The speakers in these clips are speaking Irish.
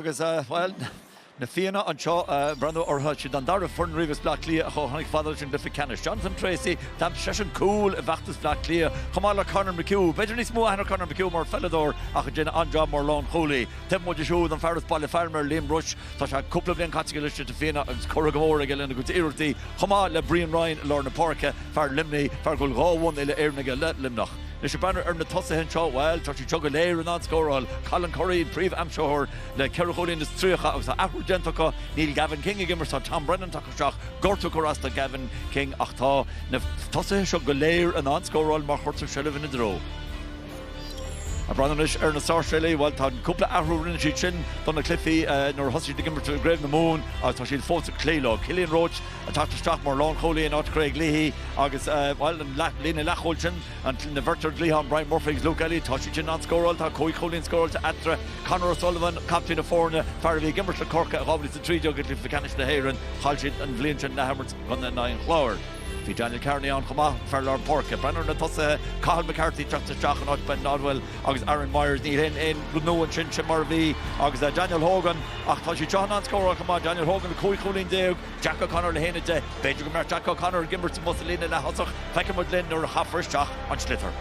agus, bhuel, na Fianna anseo ag breathnú orthu siad, an dara foireann riamh as Bleá Cliath a chomh tháinig fhad leis an gcluiche ceannais, Jonathan Treacy, d'imir seisean cúl i bhfeachtas Bhleá Cliath, chomh maith le Conor McHugh. B'fhéidir níos mó a aithneodh Conor McHugh mar pheileadóir, ach ag déanamh an-jab mar lánchúlaí. Taobh amuigh de siúd, an fear as Baile Phámar, Liam Rushe, tá sé cúpla bliain caite aige leis na Fianna agus curtha go mór aige lena gcuid iarrachtaí, chomh maith le Brian Ryan i lár na páirce, fear Luimnigh, fear a bhfuil dhá bhonn uile-Éireann aige le Luimneach. Anois ag breathnú ar na tosaithe anseo, bhuel, tá siad seo go léir in ann scóráil, Colin Currie, príomh-aimsitheoir le ceithre chúilín is tríocha agus tá athrú déanta acu, níl Gavin King ag imirt, tá Tom Brennan tagtha isteach, gortú ag cur as do Gavin King ach tá na tosaithe seo go léir in ann scóráil má chuirtear seilbh ina dtreo. Ag breathnú anois ar na Sáirséalaigh, bhuel tá cúpla athrú a rinne siad sin do na cluichí nuair a thosaigh siad ag imirt i gCraobh na Mumhan agus tá siad fós ag cloí leo. Cillian Roche Ag teacht isteach mar lánchúlaí in áit Chraig Leahy agus, bhuel, an líne leathchúil sin, an bheirt ar an gcliathán, Bryan Murphy agus Luke Elliott, tá siad sin in ann scóráil, tá cúig chúilín scóráilte eatarthu. Conor O'Sullivan, captaen na foirne, fear a bhí ag imirt le Corcaigh i 2013 i gcluiche ceannais na hÉireann, chaill siad an bhliain sin san athimirt in aghaidh an Chláir. Bhí Daniel Kearney ann chomh maith, fear lár páirce. Breathnú ar na tosaithe, Cathal McCarthy ag teacht isteach in áit Ben Nodwell agus Aaron Myers. Níl aon aon rud nua ansin, sin mar a bhí, agus Daniel Hogan, ach tá siad seo in ann scóráil chomh maith, Daniel Hogan le cúig chúilín déag, Jack O'Connor le haon déag. B'fhéidir go mbeadh Jack O'Connor ag imirt amuigh sa líne leath-thosach, feicfidh muid linn nuair a chaithfear isteach an sliotar.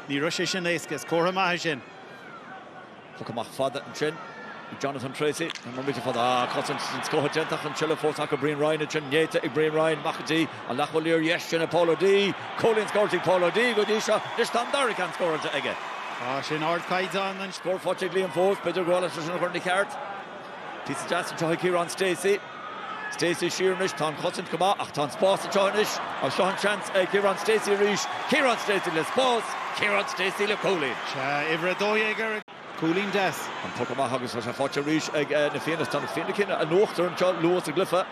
Ní raibh sé sin éasca, is comhartha maith é sin. Poc amach fada ansin ag Jonathan Tracey, an mbeidh muid le fada? Ah, cosaint den scoth déanta an tseilbh fós acu, Brian Ryan ansin, néata ag Brian Ryan, amach go dtí an leathchúlaí ar dheis sin ag Paul O'Dea. Cúilín scóráilte ag Paul O'Dea go dtí seo, anois tá an dara ceann scóráilte aige. Tá sé in ardchaighdeán an. Scór faighte ag Liam fós, b'fhéidir go bhfuil sé sin a chur ina cheart. Píosa deas anseo ag Ciarán Stacey. Stacey siar anois, tá an chosaint go maith ach tá an spás anseo anois agus seo an seans ag Ciarán Stacey arís. Ciarán Stacey le spás, Ciarán Stacey le cúilín. Sea, uimhir 12 air, cúilín deas. An poc amach agus tá sé faighte arís ag na Fianna. Tá na Fianna cinnte in uachtar anseo luath sa gcluiche.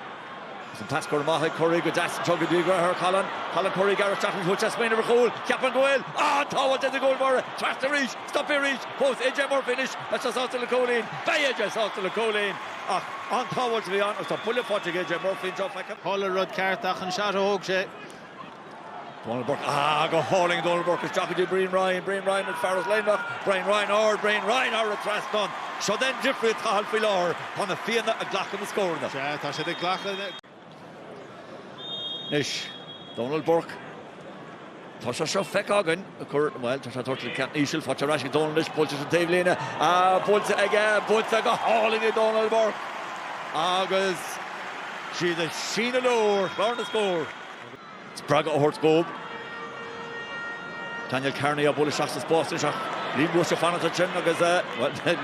Agus an pas go maith ag Currie go deas anseo go dtí a dheartháir Colin. Colin Currie ag gearradh isteach agus bhí sé ag smaoineamh ar chúl. Cheapfainn go bhfuil an-tsábháilt ag an gcúl báire teacht arís. Stopadh arís fós AJ Murphy anois. Beidh sé sásta le cúilín. Beidh AJ sásta le cúilín. Ach an-tsábháilt a bhí ann agus tá buille faighte ag AJ Murphy anseo, feicim. Tharla rud ceart ach an shot a thóg sé. Dónal Burke, Ah, go hálainn! Dónal Burke, Isteach go dtí Brian Ryan. Brian Ryan, An fear as Luimneach. Brian Ryan, Ard. Brian Ryan, thar an trasnán. Seod í an difríocht atá ann faoi láthair. Tá na Fianna ag glacadh na scóranna. Sea, tá siad ag glacadh. Anois, Dónal Burke, Tá sé seo feicthe againn. cur, bhuel, tá sé doirte ag ceann íseal, faighte ar ais ag Dónal anois, buailte síos an taobhlíne, buailte aige, buailte go hálainn ag Dónal Burke agus siad ag síneadh leo ar chlár na scór. spreagadh a thabhairt dhób. Daniel Kearney á bualadh isteach sa spás anois ach Liam Rushe ag fanacht ansin agus, bhuel,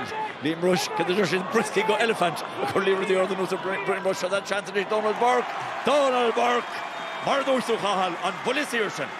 Liam Rushe, cad a deir siad, brioscaí go eilifint ag cur liathróidí arda anuas ar Liam Rushe, seans anois ag Dónal Burke, Dónal Burke! Mar a dúirt tú Cathal, an buille saor sin.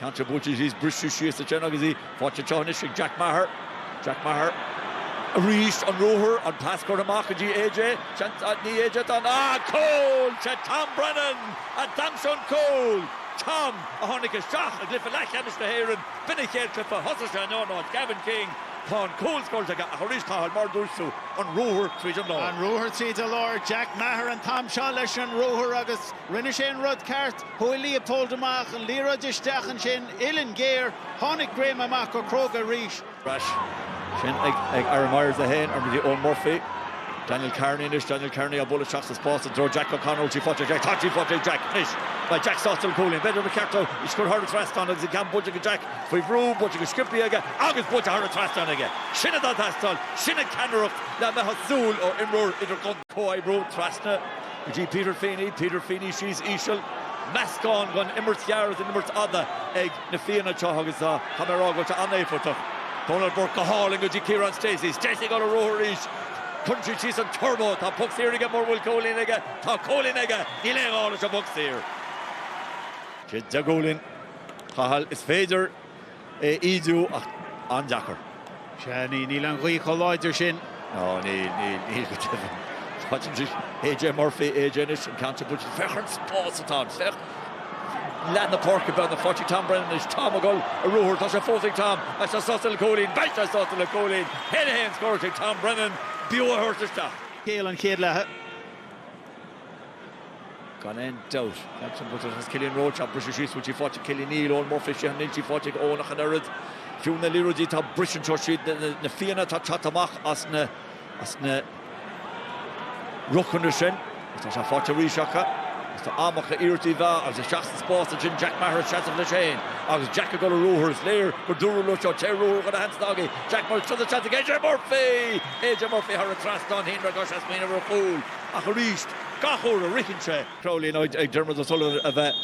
Ceann seo buailte síos, briseadh síos a dhéanamh agus í faighte anseo anois ag Jack Meagher. Jack Meagher arís, an ruathar, an pas curtha amach go dtí AJ, seans ag Ní AJ atá ann, ah cúl! Sé Tom Brennan a d'aimsigh an cúl! Tom a tháinig isteach i gcluiche leathcheannais na hÉireann, b'in an chéad chluiche a thosaigh sé in ionad Gavin King. Tá an cúl scóráilte aige ach arís Cathal, mar a dúirt tú, an ruathar tríd an lár. An ruathar tríd an lár, Jack Meagher an t-am seo leis an ruathar agus rinne sé an rud ceart. Chuaigh Leopold amach, an liathróid isteach ansin, uillinn ghéar, tháinig Graham amach go cróga arís. Ar ais ansin ag Aaron Myers, 1, ar aghaidh go dtí Eoghan Murphy. Daniel Kearney anois, Daniel Kearney á bualadh isteach sa spás i dtreo Jack O'Connor, bhfuil sí faighte ag Jack, tá sí faighte ag Jack anois, beidh Jack sásta le cúilín, b'fhéidir gur ceart dó, ag scor thar an trasnán agus an ceann bainte ag Jack faoi bhrú, bainte go sciobtha aige agus buailte thar an trasnán aige. Sin atá ag teastáil, sin an ceannaireacht lena mbeadh súil ó imreoir idir. Comhoibriú, Trasna go dtí Peter Feeney, Peter Feeney, Síos Íseal, Meascán den imirt ghearr is den imirt fhada ag na Fianna anseo agus tá mé ag rá go bhfuil sé an-éifeachtach. Dónal Burke go hálainn go dtí Ciarán Stacey, Stacey ag dul ar ruathar arís, cuireann sé síos an turbo, tá poc saor aige mura bhfuil cúilín aige, tá cúilín aige, níl aon ghá leis an bpoc saor. Seoid de chúilín a Chathail, is féidir. a ídiú ach an-deacair. Sea, níl an ghaoth chomh láidir sin. Ná níl, níl, níl go deimhin. Faighte anois ag AJ Murphy, AJ anois an ceann seo buailte. Féach ar an spás atá ann, féach. Leath na páirce beagnach, faighte ag Tom Brennan anois, Tom ag dul ar ruathar, tá sé fós ag Tom, beidh sé sásta le cúilín, beidh sé sásta le cúilín! 1, 1, scóráilte ag Tom Brennan, b'fhiú é a thabhairt isteach. Scéal an chéad leatha. Gan aon dabht, gan aon dabht, agus Cillian Roche á briseadh síos, bhfuil sí faighte ag Cillian, níl, Eoghan Murphy, 6 níl sí faighte ag Eoghan ach an oiread. Fiú na liathróidí atá ag briseadh anseo, siad na Fianna atá ag teacht amach as na ruchanna sin. Agus tá sé faighte arís acu, agus tá am acu iarracht a mheá agus isteach sa spás ansin, Jack Meagher ag seasamh leis féin, agus Jack ag dul ar ruathar, is léir gur dúradh leo seo, téir ar ruathar chuile sheans dá bhfaighidh, Jack Meagher, seo do sheans ag AJ Murphy! AJ Murphy thar an trasnán, shíl mé go raibh sé ag smaoineamh ar chúl. Ach arís, gach uair a shroicheann sé. Crowley nó ag Diarmuid O'Sullivan a bheith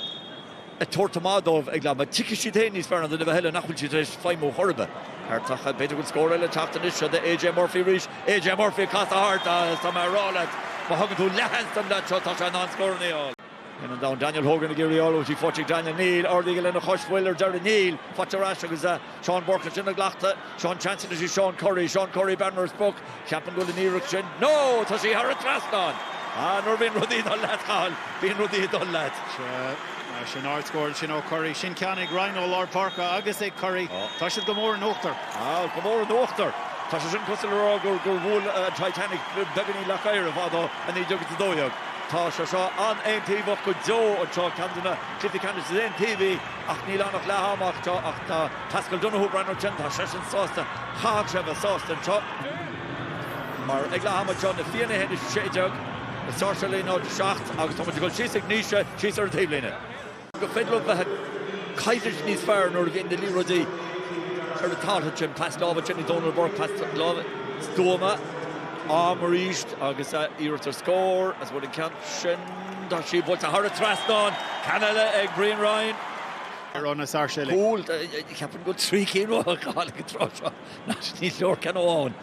ag tabhairt amach dóibh ag leath ama, tuigfidh siad féin níos fearr ná duine ar bith eile nach bhfuil siad tar éis feidhmiú chor ar bith. Ceart acu. B'fhéidir go bhfuil scór eile ag teacht anois. Siúd é AJ Murphy arís. AJ Murphy ag casadh thart. Agus tá mé ag rá leat, má thugann tú leathsheans don leaid seo, tá sé in ann scóranna a fháil. In an domhain, Daniel Hogan ag iarraidh orlaigh go dtí Pháirc Daniel Neil, ardaíodh lena chois phoill ar deireadh Neil, faighte ar ais agus Seán Currie á glacadh, tá an seans ag Seán Currie, Seán Currie, bearna ar sprioc, cheapfainn go bhfuil an iarracht sin, ó! tá sí thar an trasnán! Ah, nuair a bhíonn rudaí ag dul leat, Cathal, bíonn rudaí ag dul leat. Sea, mar sin, ardscór ansin ó Currie, sin ceann ag Ryan ó lár páirce agus ag Currie, tá siad go mór in uachtar. Ah, go mór in uachtar! Tá sé sin cosúil le rá gur bhuail an Titanic beagáinín leac oighir i bhfad ó 19 agus 12. Tá sé seo an-aontaobhach go deo anseo, ceann de na cluichí ceannais is aontaobhaí, ach níl ann ach leath ama ach seo ach tá Paschal Donohoe, breathnú air sin, tá seisean sásta, chaithfeadh sé a bheith sásta anseo, mar ag leath ama seo, Na Fianna 1-16, Na Sáirséalaigh 0-7 agus tá muid ag gabháil síos ag Naoise, síos ar an taobhlíne. gur féidir leo bheith ag coimhlint níos fearr nuair a bhíonn na liathróidí ar an talamh sin. Pas láimhe go dtí Dónal Burke pas láimhe stuama, am arís agus iarracht ar scór as, an bhfuil an ceann sin. Tá sí buailte thar an trasnán, ceann eile ag Brian Ryan. Ron as Sáirséalaigh. Cúl, ceapaim go bhfuil trí cinn faighte aige ag an tráth seo, nach níos leor ceann amháin.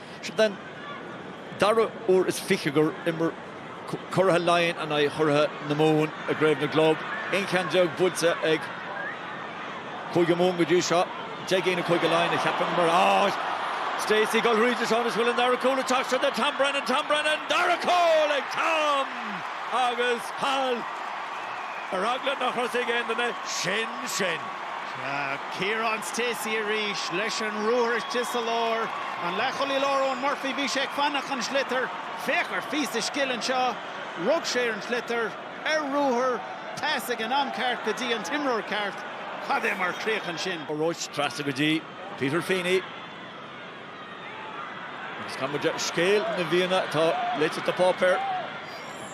Seo é an dara huair is fiche ar imir curaithe Laighean in aghaidh churaithe na Mumhan i gCraobh na gClub, aon cheann déag buaite ag Cúige Mumhan go dtí seo, deich gcinn ag Cúige Laighean, a cheapaim. Mar atá, Stacey ag gabháil tríd anois an bhfuil an dara cúl ag teacht. Go dtí Tom Brennan, Tom Brennan, dara cúl ag Tom! Agus thall! Ar eagla nár chuala sé ag aon duine, sin sin! Kieran Stacey arís leis an ruathar istigh sa lár. An leathchúlaí láir Eoin Murphy, bhí sé ag fanacht an sliotar. Féach ar an bpíosa scile anseo. Rug sé ar an sliotar ar ruathar, pas ag an am ceart go dtí an t-imreoir ceart. Cad é mar chríoch ansin! Roche trasna go dtí Peter Feeney. Agus chuala muid scéal na bhFianna atá léite sa pháipéar.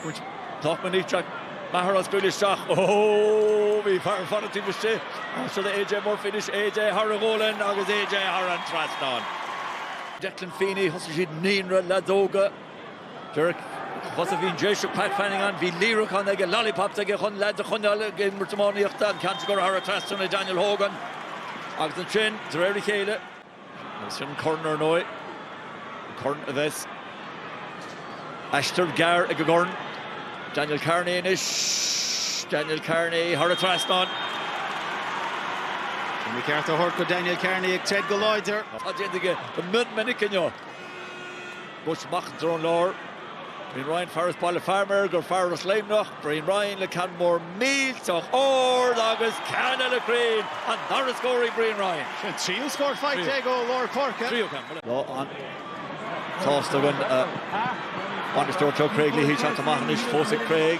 Bhain an poc ó Jack Meagher á scaoileadh isteach. Ó! Bhí fear fada taobh istigh. Ar ais do AJ Murphy anois, AJ thar an ngualainn agus AJ thar an trasnán. Declan Feeney, thosaigh siad naíonra leadóga. Derek, Thosaigh bhí an Déiseach Pat Fanning ann, bhí líreacán aige, lollipops aige chun leaids a choinneáil ag imirt iománaíochta, an ceann sin ag gabháil thar an trasnán ag Daniel Hogan. Agus ansin, de réir a chéile. Agus sin an corn, ar ndóigh. An corn a bheas. Aistear gearr ag an gcorn. Daniel Kearney anois. Daniel Kearney thar an trasnán. McCarthy á thabhairt go Daniel Kearney ag troid go láidir. Tá déanta aige go mion minic inniu. Briste amach i dtreo an láir. Brian Ryan, fear as Baile Formaid, gur fear as Luimneach. Brian Ryan le ceann mór millteach ard agus ceann eile cruinn! An dara scór ag Brian Ryan. An tríú scór faighte aige ó lár páirce. Lán sásta a mbainisteoir, tá Craig léi ag teacht amach anois fós ag Craig.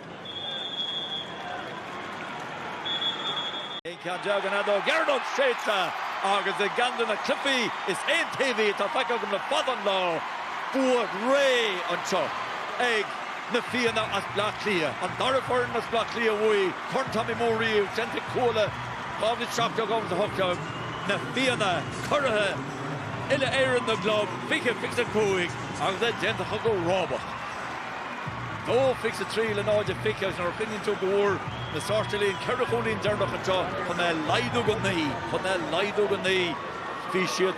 Ceann dearg an fheadóg dheireanach séidte agus i gceann de na cluichí is aontaobhaí atá feicthe agam le fada an lá, bua réidh anseo ag Na Fianna as Bleá Cliath, an dara foireann as Bleá Cliath a bhuaigh Corn Tommy Moore riamh, déanta ag Cuala 2017, 2018 Na Fianna curaithe Uile-Éireann na gClub 2025 agus é déanta acu go rábach. 2 23 le 0 20 agus nuair a chuimhníonn tú go bhfuair na Sáirséalaigh na ceithre chúilín deireanacha anseo chun é a laghdú go 9 chun é a laghdú go 9 bhí siad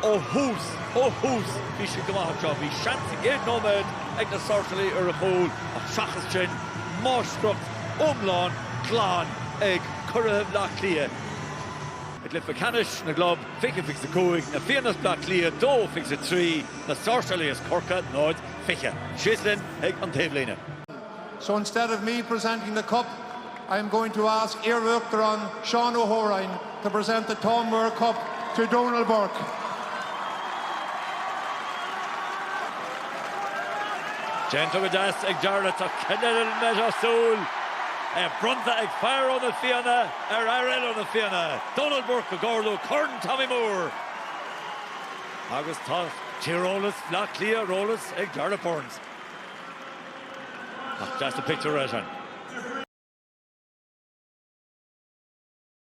ó thús ó thús bhí siad go maith anseo bhí seans sa gcéad nóiméad ag na Sáirséalaigh ar chúl ach seachas sin máistreacht iomlán glan ag curaithe Bhleá Cliath i gcluiche ceannais na gclub 2025 Na Fianna as Bleá Cliath 2 23 Na Sáirséalaigh as Corcaigh 0 20. Síos linn chuig an taobhlíne. So instead of me presenting the cup, I am going to ask iar-Uachtarán Seán Ó hÓráin to present the Tommy Moore Cup to Dónal Burke. Déanta go deas ag Jarlath ach cad eile a mbeifeá ag súil? É bronnta ag fear ó na Fianna ar fhear eile ó na Fianna, Dónal Burke, ag ardú Corn Tommy Moore. Agus tá tíreolas Bhleá Cliath ar eolas ag Jarlath Burns. Nach deas an pictiúr é sin.